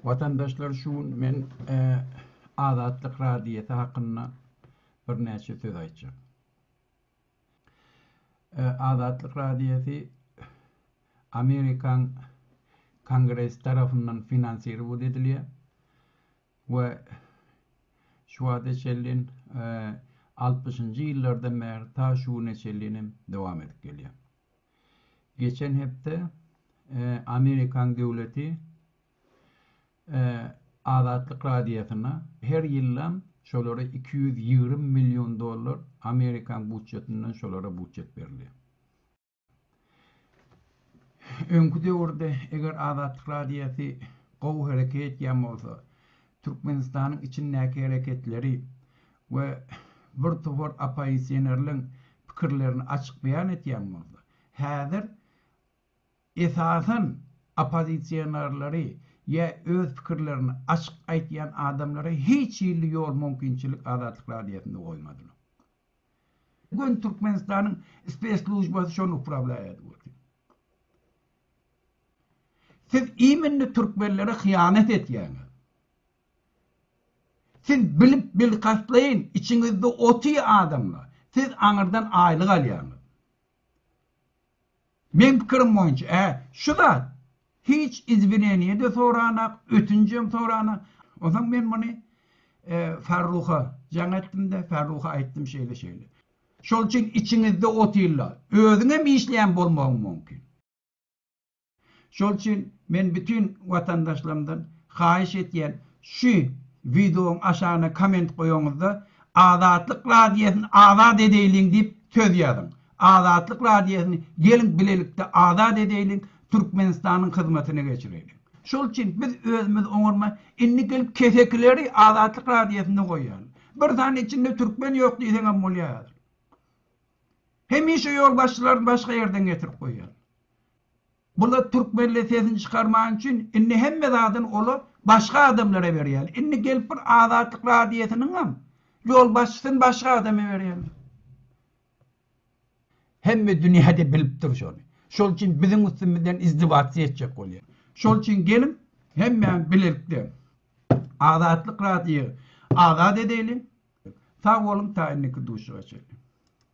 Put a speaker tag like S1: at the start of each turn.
S1: Watandaşlar şu gün men Azatlyk radiýasy hakynda birnäçe söz aýtjak. Azatlyk radiýasy Amerikan Kongresi tarafyndan finansirowat edilýär we şu wagta çenli 60-njy ýyllardan bäri ta şu güne çenli hem dowam edip gelýär. Geçen hepde Amerikan döwleti Azatlyk Radiosyna her ýyllam şolara iki ýüz ýigrimi million dollar Amerikan budjetinden şolara budjet berilýär. Öňki döwürde eger Azatlyk Radiosy gowy hereket etýän bolsa, Türkmenistanyň içindäki hereketleri we bir topar oppoisionerleň pikirlerini açyk beýan etýän bolsa, häzir esasan oppozisionerleri ýa öz pikirlerini açyk aýtýan adamlary hiç hilli ýol mümkinçilik Azatlyk radiosynda goýmadylar. Bu gün Türkmenistanyň spesslujbasy şony uprablaiýady bolsa. Siz immende türkmenlere hyýanat etýäňiz. Siz bilip bilkastlaýyn içiňizde otyr adamlar siz aňyrdan aýlyk alýaňyz. Meň pikirim boýunça hä şu zat hiç izwineniýede soranak ötünjem soranak onsoň men muny Farruha jaň etdimde Farruha aýtdym şeýle şeýle. Şol üçin içiňizde otyrlar özüňem işleýän bolmagyň mumkin. Şol üçin men bütin watandaşlarymdan haýyş etýän şu wideoň aşagyna komment goýaňyzda Azatlyk radiosyny azat edeýliň diýip söz ýazyň. Azatlyk radiosyny geliň bilelikde azat edeýliň, Türkmenistanyň hyzmatyna geçireýliň. Şol üçin biz özümiz oňarman indi gelip kesekileri Azatlyk radiosynda goýýarlar. Bir sany içinde türkmen ýok diýseň hem bolýar häzir. Hemişe ýolbaşçylary başga ýerden getirip goýýarlar. Bular türkmenler sesini çykarman üçin indi hemme zadyn ola başga adamlara berýäler. Indi gelip bir Azatlyk radiosynyňam ýolbaşçysyny başga adama berýäler. Hemme dünýäde bilip dur şony. Şol üçin biziň üstümizden izdewatsyýa etjek bolýar. Şol üçin geliň hemmämiz bilelikde Azatlyk radiýa azat edeýliň. Sag boluň ta indiki duşuşyga çenli.